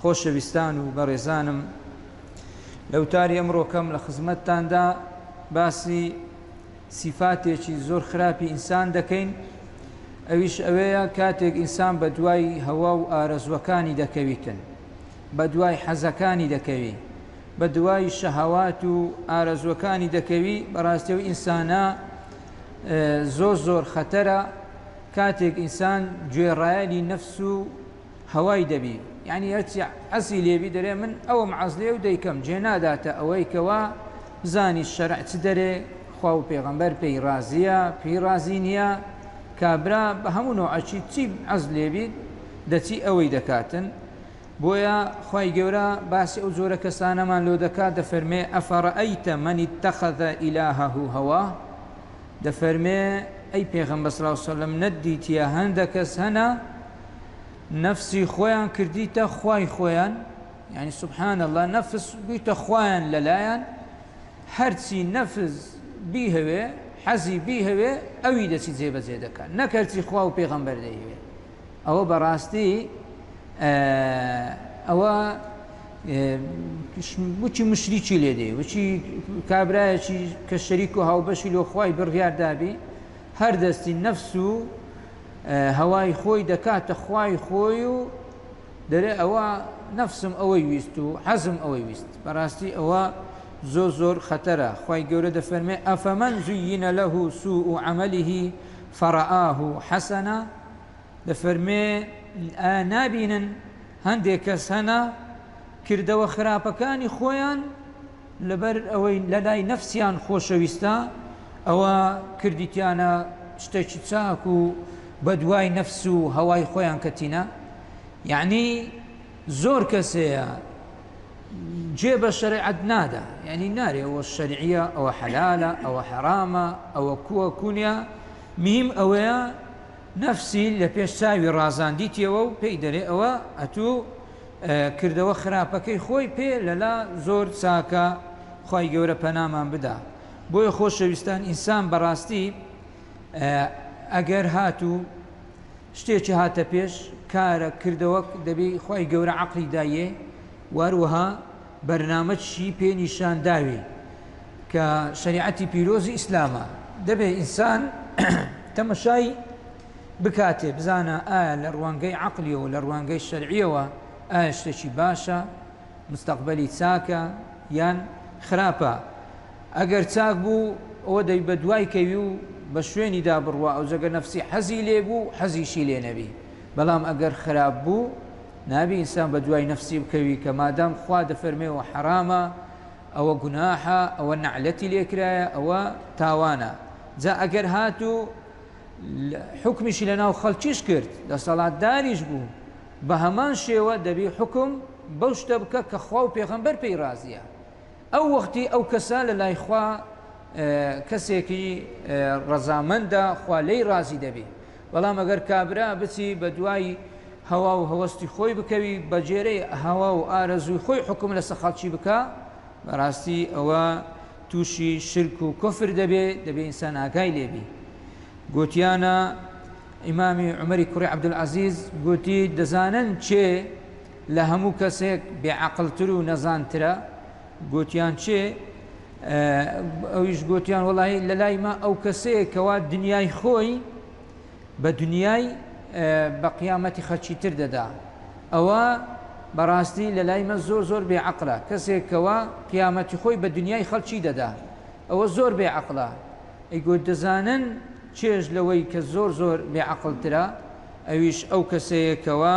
خۆشەویستان و بەڕێزانم لە وتاری ئەمڕۆکەم لە خزمەتتاندا باسی سیفاتێکی زۆر خراپی ئینسان دەکەین ئەویش ئەوەیە کاتێک ئینسان بە دوای هەوا و ئارەزوەکانی دەکەویتن بە دوای حەزەکانی دەکەوی بە دوای شەهوات و ئارەزوەکانی دەکەوی بەڕاستی و ئینسانە زۆر زۆر خەتەرە کاتێک ئینسان گوێڕایەلی نەفس و هەوای دەبی یانی هەرچی عەزی لێبی دەرێ من ئەوم عەز لێ و دەیکەم جێ ناداتە ئەوەی کە وا بزانی شەرع چ دەرێ خوا و پێغەمبەر پێی ڕازیە پێی ڕازی نیە کابرا بە هەموو نۆعەکی چی عەز لێبیت دەچی ئەوەی دەکاتن بۆیە خوای گەورە باسی ئەو جۆرە کەسانەمان لۆ دەکات دەفەرمێ ئەفەڕەئەیتە مەنی تەخەذە ئیلاهەه هەوا دەفەرمێ، ئەی پێغەمبەر صلی اللە علیە وسلم نەتدیتیە هەندە کەس هەنە نەفسی خۆیان کردیتە خوای خۆیان یعنی سبحان اللە نەفس بویتە خوایان لەلایان هەرچی نەفس بیهەوێ حەزی بیهەوێ ئەوی دەچی جێبەجێ دەکات نەکەرچی خوا و پێغەمبەر دەیهەوێ ئەوە بەڕاستی ئەوە بچی مشریکی لێ دێ وچی کابراایەکی کە شەریک و هاوبەشی لۆ خی بڕیاردابی هەر دەستی نەفس و هەوای خۆی دەکاتە خوای خۆی و دەرێ ئەوە نەفسم ئەوەی ویست و حەزم ئەوەی ویست بەڕاستی ئەوە زۆر زۆر خەتەرە خی گەورە دەفەرمێ ئەفەمەن زوینە لەه سوء و عملیه فەڕآه حەسەنە دەفەرموێ، ئایا نابینن هەندێ کەس هەنە کردەوە خراپەکانی خۆیان لەبەر ئەوەی لەلای نەفسیان خۆشەویستە ئەوە کردیتیانە شتێکی چاک و بەدوای نەفس و هەوای خۆیان کەتینە یعنی زۆر کەسەیە جێ بە شەرعەت نادا یعنی نارێ ئەوە شەرعیە ئەوە حەلالە ئەوە حەرامە ئەوە کووە کونیا مهیم ئەوەیە نەفسی لە پێش چاوی ڕازان دیتیەوە و پێی دەرێ ئەوە ئەتوو کردەوە خراپەکەی خۆی پێ لە لا زۆر چاکە خوای گەورە پەنامان بدا بۆیە خۆشەویستان ئینسان بەڕاستی ئەگەر هاتوو شتێکی هاتە پێش کارە کردەوە دەبی خوای گەورە عەقلی دایێ واروەها بەرنامە چی پێ نیشان داوی کە شەریعەتی پیرۆزی ئیسلامە دەبێ ئینسان تەمەشای بکاتێ بزانە ئایا لە ڕوانگەی عەقلیەوە لە ڕوانگەی شەرعیەوە ئایا شتێکی باشە مستەقبەلی چاکە یان خراپە ئەگەر چاک بوو ئەوە دەی بە دوای کەوی و بە شوێنی دا بڕوا ئەو جەگە نەفسی حەزی لێبوو حەزیشی لێ نەبی بەڵام ئەگەر خراپ بوو نابی ئینسان بە دوای نەفسی بکەوی کە مادام خوا دەفەرمێ ئەوە حەرامە ئەوە گوناحە ئەوە نەعلەتی لێکرایە ئەوە تاوانە جا ئەگەر هاتوو حکمیشی لە ناو خەڵکیش کرد دەسەڵاتداریش بوو بە هەمان شێوە دەبی حکم بەو شتە بکە کە خوا و پێغەمبەر پێی رازیە ئەو وەختی ئەو کەسە لە لای خوا کەسێکی ڕەزامەندە خوا لێی ڕازی دەبی بەڵام ئەگەر کابرا بچی بە دوای هەوا و هەوەستی خۆی بکەوی بەجێرەی هەوا و ئارەزووی خۆی حکوم لەسە خەڵکی بکە بەڕاستی ئەوە تووشی شرک و کفر دەبێ دەبێ ئینسان ئاگای لێبی گوتیانە ئیمامی عمەری کوڕی عبدالعزیز گوتی دەزانن چێ لە هەموو کەسێک بێ عەقڵ تر و نەزان ترە گۆتیان چێ ئەویش گۆتیان وەڵی لە لای ما ئەو کەسەیە کەوا دنیای خۆی بە دنیای بە قیامەتی خەچی تر دەدا ئەوە بەڕاستی لە لای مە زۆر زۆر بێ عقلە کەسێک کەوا قیامەتی خۆی بە دنیای خەڵکی دەدا ئەوە زۆر بێ عقلە ئەی گۆت دەزانن چێژ لەوەی کە زۆر زۆر بێ عقلترە ئەویش ئەو کەسەیەکەوە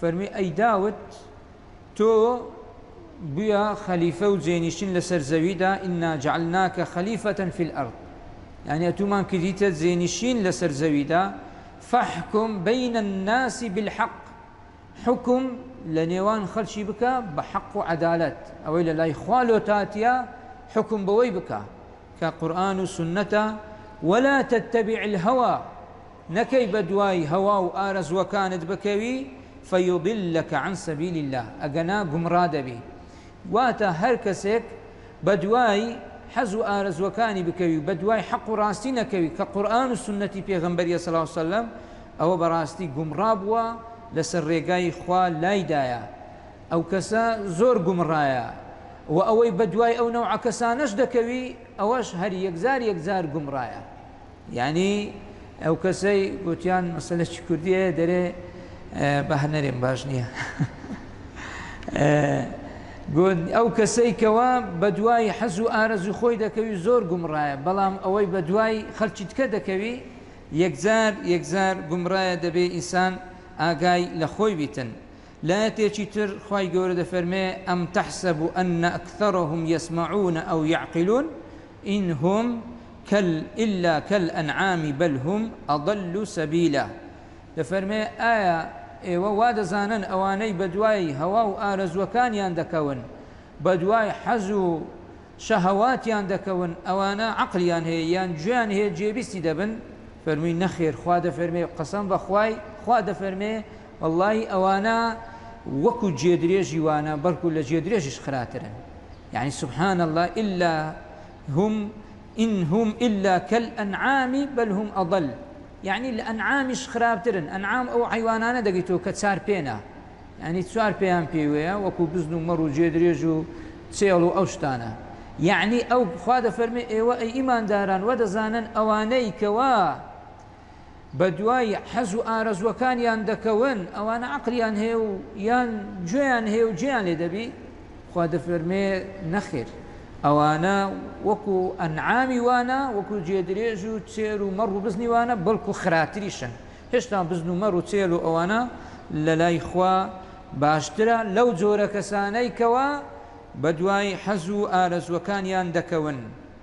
فەرمووی، ئەی داود، تۆ بوویە خەلیفە و جێنیشین لەسەر زەویدا، ئینا جەعلناکە خەلیفە فی الارض، یانی ئەتوومان کردیتە جێنیشین لەسەر زەویدا، فەحکم بین الناس بالحق، حوکم لەنێوان خەڵکی بکە بە حەق و عەدالەت، ئەوەی لەلای خوا لۆتاتیە حوکم بەوەی بکە کە قورئان و سوننەتە، ولا تتبع الهوی، نەکەی بەدوای هەوا و ئارەزووەکانت بکەوی، فیضلک عن سبیل اللە، ئەگەنا گومڕا دەبی. واتە هەر کەسێک بەدوای حەز و ئارەزووەکانی بکەوی و بەدوای حەق و ڕاستی نەکەوی کە قورئان و سوننەتی پێغەمبەریە صلی اللە علیە وسلم ئەوە بەڕاستی گومڕا بووە لەسەر ڕێگای خوا لایدایە ئەو کەسە زۆر گومڕایە وە ئەوەی بەدوای ئەو نەوعە کەسانەش دەکەوی ئەوەش هەر یەکجار یەکجار گومڕایە. یانی ئەوکەسەی گۆتیان مەسەلە چی کوردی هەیە دەرێ بە هە نەرێم باش نییە ئەو کەسەی کەوا بە دوای حەز و ئارەزوی خۆی دەکەوی زۆر گومڕایە بەڵام ئەوەی بە دوای خەلکی تکە دەکەوی یەکجار یەکجار گومڕایە دەبێ ئینسان ئاگای لە خۆی بیتن لایەتێکی تر خوای گەورە دەفەرمێ، ئەم تەحسەب ان اکثرهم یسمعون او یعقلون ان هم کل الا کل انعام بل هم اضل سبیلا دەفەرمێ ئایا ئێوە وا دەزانن ئەوانەی بەدوای هەوا و ئارەزووەکانیان دەکەون بەدوای حەز و شەهەواتیان دەکەون ئەوانە عەقڵیان هەیە یان گوێیان هەیە گوێبیستی دەبن فەرمووی نەخێر خوا دەفەرمێ قەسەم بەخوای خوا دەفەرمێ وەڵڵاهی ئەوانە وەکو جێدرێژی وانە بەڵکو لە جێدرێژیش خراترن یەعنی سبحان اللە الا هم ان هم الا کالانعام بل هم اضل یەعنی لە ئەنعامیش خراپترن ئەنعام ئەو حەیوانانە دەگەی تۆ کە چار پێنا یەعنی چوار پێیان پێوەیە وەکو بزن و مەڕ و جێدرێژ و چێڵ و ئەو شتانە یەعنی ئەو خوا دەفەرمێ ئێوە ئەی ئیمانداران وە دەزانن ئەوانەی کەوا بەدوای حەز و ئارەزووەکانیان دەکەون، ئەوانە عەقڵیان هەیە و یان گوێیان هەیە و جێیان لێ دەبی؟ خوا دەفەرمێ، نەخێر، ئەوانە وەکو ئەنعامی وانە، وەکو گێدرێژ و چێر و مەڕ و بزنی وانە، بەڵکو خراتریشن، هێشتا بزن و مەڕ و چێل و ئەوانە لەلای خوا باشترە لەو جۆرە کەسانەی کەوا بەدوای حەز و ئارەزووەکانیان دەکەون.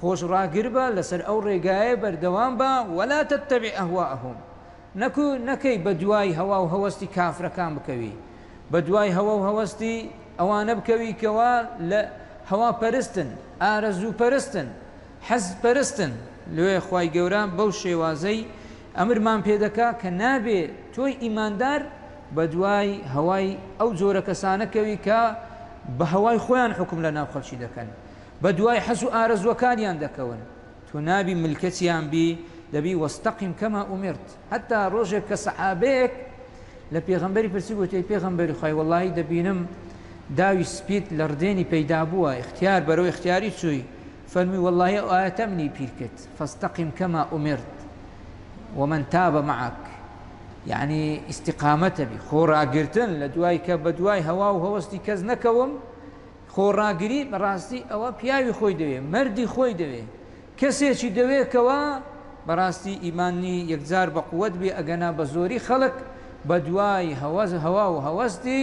خۆش ڕاگربە لەسەر ئەو ڕێگایە بەردەوام بە ولا تتبع اهواءهم نەکو نەکەی بەدوای هەوا و هەوەستی کافرەکان بکەوی بەدوای هەوا و هەوەستی ئەوانە بکەوی کەوا لە هەوا پەرستن ئارەزوو پەرستن حەز پەرستن لۆیە خوای گەورە بەو شێوازەی ئەمرمان پێ دەکا کە نابێ تۆی ئیماندار بەدوای هەوای ئەو جۆرە کەسانە کەوی کە بە هەوای خۆیان حوکم لەناو خەڵکی دەکەن. بەدوای حەز و ئارەزووەکانیان دەکەون تۆ نابی ملکەچیان بی دەبی واستقم کما امرت حەتا ڕۆژێک کە سەحابەیەک لە پێغەمبەری پرسی گوتی ئەی پێغەمبەری خوای وەڵاهی دەبینم داوی سپیت لە ڕدێنی پەیدا بووە ئیختیار بەرەو ئیختیاری چووی فەرمی وەڵاهی ئەو ئایەتە منی پیر کرد فاستقم کما امرت ومن تاب معك یعنی ئیسیقامەتەبی خۆ ڕاگرتن لە دوای کە بە دوای هەوا و هەوەستی کەس نەکەوم خۆڕاگری بەڕاستی ئەوە پیاوی خۆی دەوێ مەردی خۆی دەوێ کەسێکی دەوێ کەوا بەڕاستی ئیمانی یەکجار بەقوەت بێ ئەگەنا بەزۆری خەڵک بەدوای هەوەز هەوا و هەوەستی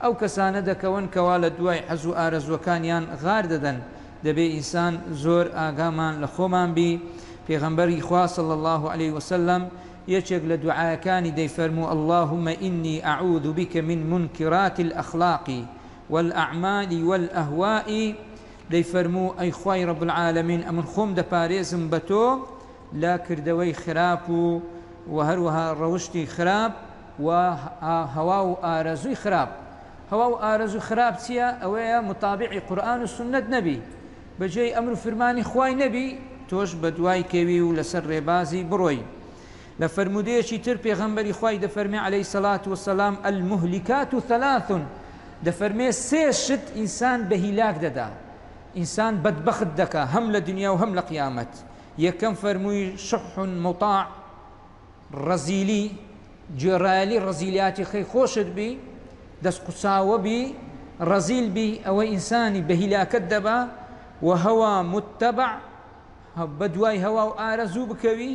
ئەو کەسانە دەکەون کەوا لەدوای حەزو ئارەزوەکانیان غار دەدەن دەبێ ئینسان زۆر ئاگامان لەخۆمان بی پێغەمبەری خوا صلی اللە علیە وسلم یەکێک لەدوعایەکانی دەیفەرموو اللهم انی اعوذ بک من منکرات الاخلاق والاعمال والاهواء دەیفەرموو ئەی خوای رب العالمین ئەمن خۆم دەپارێزم بە تۆ لە کردەوەی خراپ و وە هەروەها ڕەوشتی خراپ و هەوا و ئارەزووی خراپ هەوا و ئارەزوو خراپ چییە ئەوەیە متابعی قورئان و سوننەت نەبی بە جێی ئەمر و فرمانی خوای نەبی تۆش بەدوای کەوی و لەسەر ڕێبازی بڕۆی لە فەرموودەیەکی تر پێغەمبەری خوای دەفەرمێ علیە الصلوة والسلام، المهلکات ثلاث، دەفەرمێ سێ شت ئینسان بە هیلاک دەدا، ئینسان بەدبەخت دەکا هەم لە دنیا و هەم لە قیامەت، یەکەم فەرمووی، شح مطاع، ڕەزیلی، گوێڕایەلی ڕەزیلیاتی خەی خۆشت بی، دەست قوچاوە بی، ڕەزیل بی، ئەوە ئینسانی بە هیلاکت دەبا، و هەوا متبع، بەدوای هەوا و ئارەزوو بکەوی،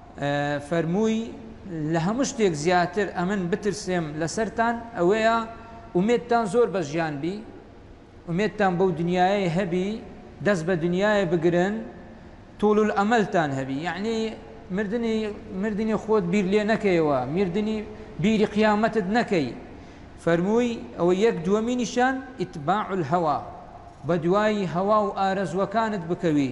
فەرمووی، لە هەموو شتێک زیاتر ئەمن بترسێم لەسەرتان ئەوەیە ئومێدتان زۆر بە ژیان بی، ئومێدتان بەو دنیایەی هەبی، دەست بە دنیایە بگرن، طول الاملتان هەبی، یەعنی مردنی مردنی خۆت بیر لێ نەکەیەوە، مردنی بیری قیامەتت نەکەی. فەرمووی، ئەوە یەک دووەمینیشیان، اتباع الهوی، بەدوای هەوا و ئارەزووەکانت بکەوی،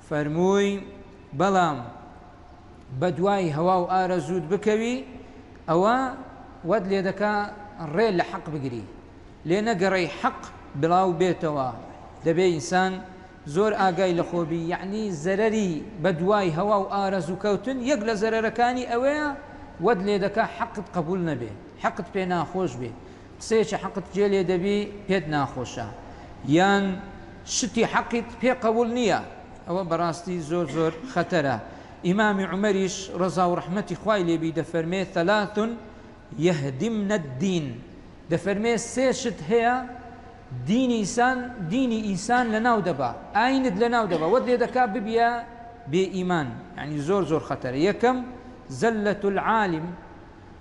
فەرمووی، بەڵام بەدوای هەوا و ئارەزووت بکەوی، ئەوا وات لێدەکا ڕێ لە حەق بگری، لێ نەگەڕێی حەق بڵاو بێتەوە، دەبێ ئینسان زۆر ئاگای لە خۆ بی، یەعنی زەرەری بەدوای هەوا و ئارەزوو کەوتن، یەک لە زەرەرەکانی ئەوەیە وات لێدەکا حەقت قەبووڵ نەبێ، حەقت پێ ناخۆش بێ. قسەیەکی حەقت جێ لێ دەبی پێت ناخۆشە یان شتی حەقیت پێ قەوڵ نیە ئەوە بەڕاستی زۆر زۆر خەتەرە ئیمامی عومەریش ڕەزا و ڕەحمەتی خوای لێ بی دەفەرمێ ثلاث یهدمن الدین دەفەرمێ سێ شت هەیە دینی ئیسان دینی ئیسان لەناو دەبا ئاینت لەناو دەبا وەت لێ دەکا ببیە بێ ئیمان یعنی زۆر زۆر خەتەرە یەکەم زلة العالم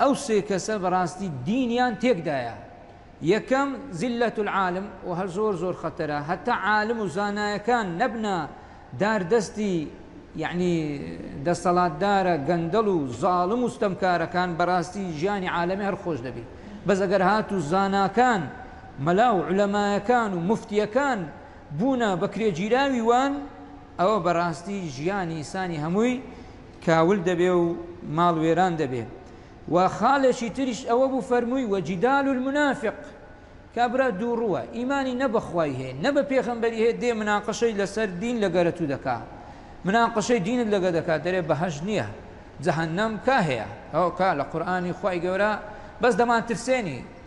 ئەو سێ کەسە بەراستی دینیان تێکدایە یەکەم زلە العالم و هەر زۆر زۆر خەتەرە هەتا عالم و زانایەکان نەبنە دار دەستی یەعنی دەستەڵاتدارە گەندەڵ و زاڵم و ستەمکارەکان بەراستی ژیانی عالەمی هەر خۆش دەبی بەس ئەگەر هات و زاناکان مەلا و علەمایەکان و مفتیەکان بوونە بەکرێگیراوی وان ئەوە بەراستی ژیانی ئیسانی هەمووی کاول دەبێ و ماڵ وێران دەبێ و خاڵێکی تریش ئەوە بوو فەرمووی وە جدال المنافق کابرا دووڕووە ئیمانی نە بە خوای هەیە نە بە پێغەمبەری هەیە دێ مناقشەی لەسەر دین لە گەرەتوو دەکا مناقشەی دینت لەگە دەکات دەرێ بەهەش نییە جەهنم کا هەیە ئەو کا لە قورآانی خوای گەورە بەس دەمان ترسێنی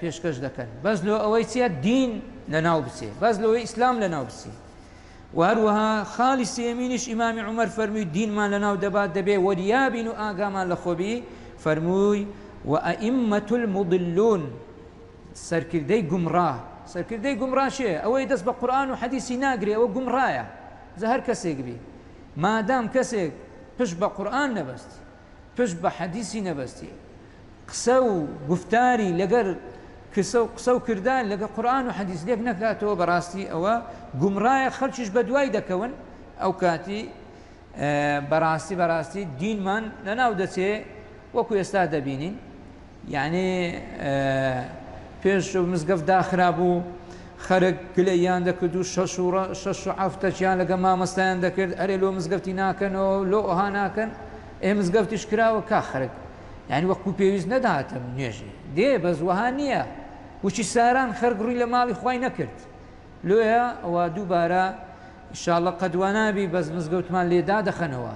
پێشکەش دەکەن بەس لۆ ئەوەی چیە دین لەناو بچێ بەس لۆی ئیسلام لەناو بچێ و هەروەها خالی سێمینیش ئیمامی عمر فەرمی دینمان لەناو دەبات دەبێ وەریابین و ئاگامان لە خۆبی فەرمووی و ئەئیمەت المضلون سەرکردەی گومڕا سەرکردەی گومڕاشێ ئەوەی دەست بە قورآن و حەدیسی ناگرێ ئەوە گومڕایە زە هەر کەسێک بی مادام کەسێک پشت بە قورآن نەبەست پشت بە حەدیسی نەبەستی قسە و گوفتاری لەگەر کسە و قسە و کردار لەگە قورئان و حەدیس لێک نەکاتەوە بەڕاستی ئەوە گومڕایە خەڵکیش بەدوای دەکەون ئەو کاتی بەڕاستی بەڕاستی دینمان لەناو دەچێ وەکو ئێستا دەبینین یانی پێش مزگەفت داخرابوو خەرک گلەییان دەکرد و شەش و ڕە شەش و عەفتە چیان لەگە مامەستایان دەکرد ئەرێ لۆ مزگەفتی ناکەنەوە لۆ ئەوها ناکەن ئێ مزگەفتیش کراوە کا خەرک یانی وەکو پێویست نەداتم نوێژی دێ بەس وەها نییە وچی ساران خەرک ڕووی لە ماڵی خوای نەکرد لۆیە ئەوە دووبارە ئیشاڵڵە قەدوانابی بەس مزگەوتمان لێ دادەخەنەوە.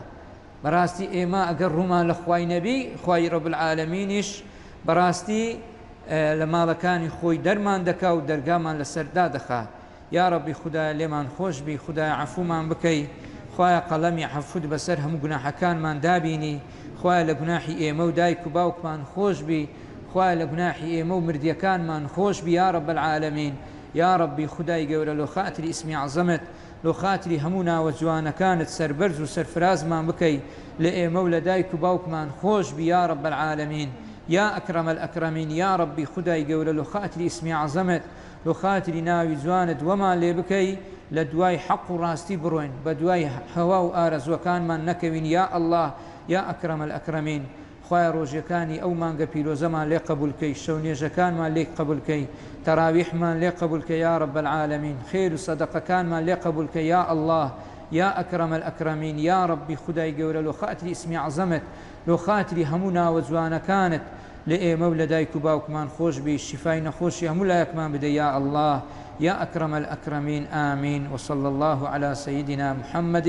بەڕاستی ئێمە ئەگەر ڕوومان لە خوای نەبی خوای رب العالمینیش بەڕاستی لە ماڵەکانی خۆی دەرمان دەکا و دەرگامان لەسەر دادەخا یاڕەبی خودایە لێمان خۆشبی خودایە عەفومان بکەی خوایە قەڵەمی عەفوت بەسەر هەموو گوناحەکانمان دابینی خوایە لە گوناحی ئێمە و دایک و باوکمان خۆشبی خوایە لە گوناحی ئێمە و مردیەکانمان خۆشبی یاڕەب العالمین یاڕەبی خودای گەورە لۆ خاتری ئیسمی عەزەمت لۆ خاتری هەموو ناوە جوانەکانت سەربەرز و سەرفرازمان بکەی لە ئێمە و لە دایک و باوکمان خۆش بی یا رب العالمین یا اکرم الاکرمین یا ربی خودای گەورە لۆ خاتری اسمی عظمت لۆ خاتری ناوی جوانت وەمان لێ بکەی لە دوای حەق و راستی برۆین بە دوای هەوا و ئارەزوەکانمان نەکەوین یا اللە یا اکرم الاکرمین خوایە ڕۆژێکانی ئەو مانگە پیرۆزەمان لێ قەبول کەی شەو نوێژەکانمان لێک قەبول کەی تەراویحمان لێ قەبول کە یا رب العالمین خێر و سەدەقەکانمان لێ قەبول کە یا اللە یا اکرم الاکرمین یا ربی خودای گەورە لۆ خاتری اسمی عظمت لۆ خاتری هەموو ناوە جوانەکانت لە ئێمە و لە دایک و باوکمان خۆش بی شیفای نەخۆشی هەموو لایەکمان بدە یا اللە یا اکرم الاکرمین آمین وصلی اللە علی سیدنا محمد